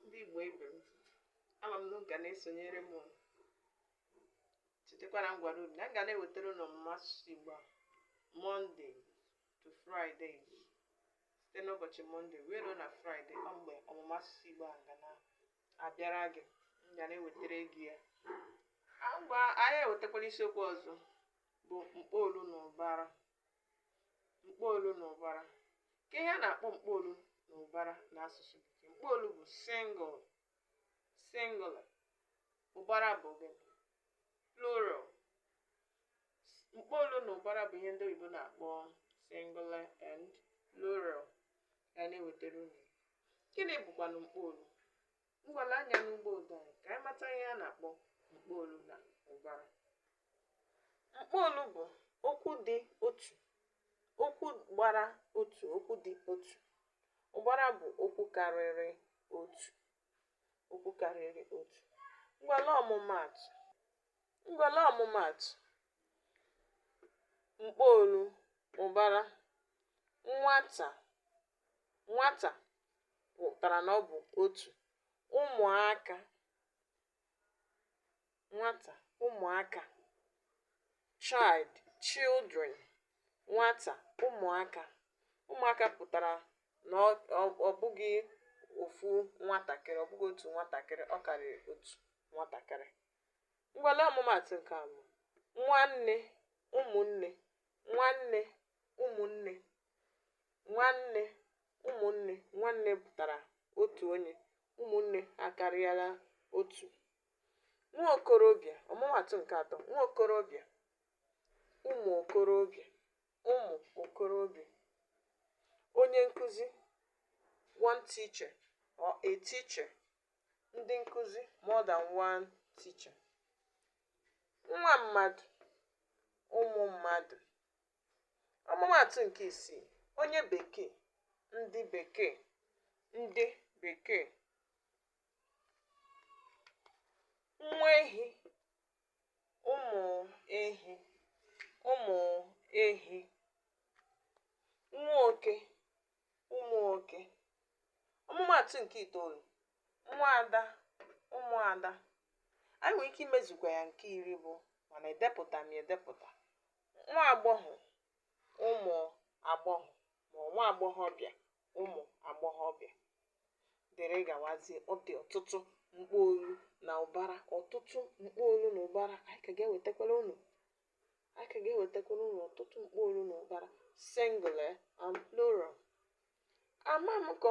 ndị Igbo ibe m ama m na unu ga na-esonyere m. unu chetakwara na m gwara unu na m ga na-ewetara unu ọmụma asụsụ Igbo a Monday to Friday site n'ụbọchị mọnde wee ruo na fraịde ọ mgbe ọmụma asụsụ Igbo a ga na-abịara gị m ga na-ewetara gị ya ngwa anyị ewetakwala isiokwu ọzọ bụ mkpọolu na ụbara mkpọolu na ụbara kee ihe a na-akpọ mkpọolu na ụbara n'asụsụ bekee mkpọolu bụ sing- singular ụbara bụ gịnị plural mkpọolu na ụbara bụ ihe ndị oyibo na-akpọ singular and plural ya na-ewetara unu gịnị bụkwanụ mkpọolu ngwa lee anya na bọọdụ anyị ka anyị mata ihe a na-akpọ mkpọolu na ụbara mkpọolu bụ okwu dị otu okwu gbara otu okwu dị otu ụbara bụ okwu karịrị otu okwu karịrị otu ngwa lee ọmụmaatụ ngwa lee ọmụmaatụ mkpọolu ụbara nwata nwata pụtara na ọ bụ otu ụmụaka nwata ụmụaka child children nwata ụmụaka ụmụaka pụtara na ọ ọ- ọ bụghị ofu nwatakịrị ọ bụghị otu nwatakịrị ọ karịrị otu nwatakịrị ngwa lee ọmụmaatụ nke abụọ nwanne ụmụnne nwanne ụmụnne nwanne ụmụnne nwanne pụtara otu onye ụmụnne akarịala otu nwa okorobịa ọmụmaatụ nke atọ nwa okorobịa ụmụ okorobịa ụmụ okorobịa onye nkụzi one teacher or a teacher ndị nkụzi more than one teacher nwa mmadụ ụmụ mmadụ ọmụmaatụ nke isii onye bekee ndị bekee ndị bekee nwa ehi ụmụ ehi ụmụ ehi nwa oke ụmụ nwoke ọmụmaatụ nke itoolu nwa ada ụmụ ada anyị nwere ike imezukwa ya nke iri bụ mana edepụta m edepụta nwa agbọghọ ụmụ agbọghọ ma nwa agbọghọbịa ụmụ agbọghọbịa dịrị gawazie ọ dị ọtụtụ mkpọolu na ụbara ọtụtụ mkpọolu na ụbara anyị ka ga-ewetakwara unu a ka ga-ewetakwara unu ọtụtụ mkpọolu na ụbara singular and plural ama m ka